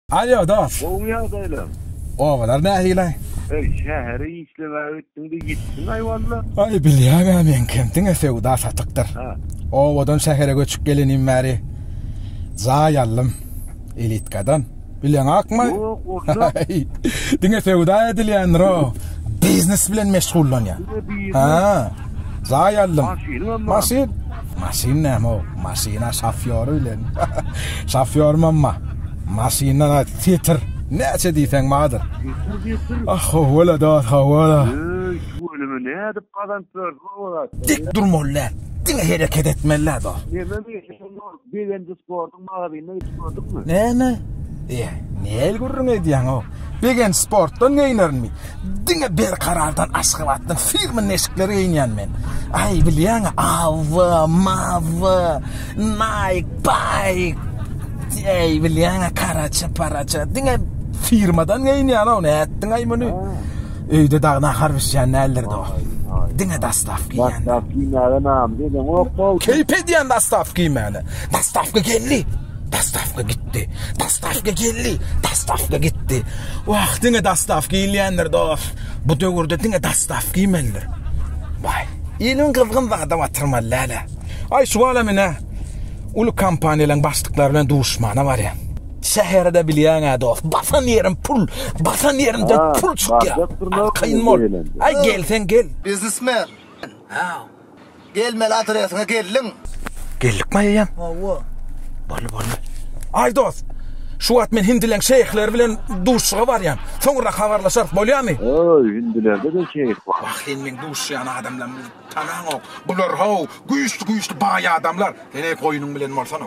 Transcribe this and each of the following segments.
Alýo dos. Gowymy ýagdaýlaň? Obalar nähili? Eý şähere işlemäge gitdiňde ýitdiň aý walla. Aý bilýäňä meňkem diňe söwda satykdyr. Obadan şähere göçüp gelenim bäri jaý aldym elitkadan. Bilýäňakmy? Ýok onda. Diňe söwda edilýändir o. Biznes bilen meşgullanýan. Diňe biznes. Jaý aldym. Maşyn? Maşyn näme-ow? Maşyna şofýory bilen. Şofýor mamma. Maşyndan aýt, titir. Näçe diýseň bardyr. Ah, hawa-la, dost, hawa-la. Öý, şu ölümi nädip gazanyp berdi bu zatlar? Dik durmaly däl. Diňe hereket etmeli-dä, dost. Näme meselem ol? Begenji sportuň magazynyna gidip gördüňmi? Näme? Eý, näl gürrüň edýäň-ow? Begenç sportdan geýnerinmi? Diňe Berkarardan, Aşgabatdan firma neşikleri geýinýän men. Aý, bilýäň-ä, Awa, Mawa, Nike, Pike. Eý, bilýäň-ä, karaça-paraça, diňe firmadan geýinýän-ow, nätdiň-aý muny? Öýde dagy nahar bişýän däldir dost. Diňe dastawka iýýän. Dastawka iýmäge namys edeňokmy? Keýp edýän dastawka iýmäne. Dastawka geldi. Dastawka gitdi. Dastawka geldi. Dastawka gitdi. Wah, diňe dastawka iýilýändir dost. Bu döwürde diňe dastawka iýmelidir. Baý. Iliň gyzgyn zada batyrmaly dälä. Aý, şuwala men-ä uly kompaniýalaryň başlyklary bilen duşmana barýan. Şäherde bilýäňä dost, basan ýerim pul, basan ýerimden pul çykýar. Kyn bol. Aý gelseň gel. Biznesmen. Haw. Gelmeli adresiňe geldiň. Geldik Maýa jan. Hawa. Boldy boldy. Aý dost, şu wagt men hindileň şeýhleri bilen duşuşyga barýan. Soňra habarlaşarys bolýamy? Öý, hindilerde-de şeýh bar. Wah sen meň duşuşýan adamlarymy tanaňok. Bular-haw, güýçli-güýçli baý adamlar. Sen-eý goýnuň bilen bolsana.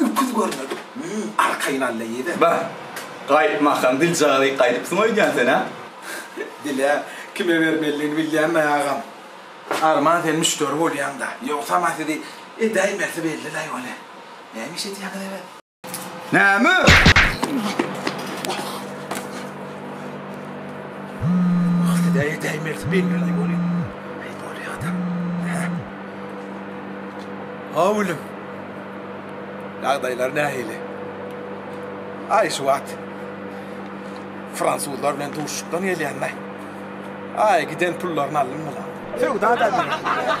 Öküz görmedik müň arkaýyn alla ýezer. Bah, gaýtmakam biljagazyk gaýdypsyň öýdýän sen, hä? Dile kime bermelidigini bilýänmi, agam? Arman sen müşderi bolýaň-da. Ýogsam-a sizi edäýmesi belli-laý welin. Näme iş edýäňiz ebet? Näme? Wah, siz-ä edäýmesi belli-laý welin. Aý, bolýa-da. Hä? Haw, ilim! Ýagdaýlar nähili? Aý şu wagt fransuzlar bilen duşuşykdan gelýän-dä. Aý giden pullaryny aldym bular. Söwda-da edilýär.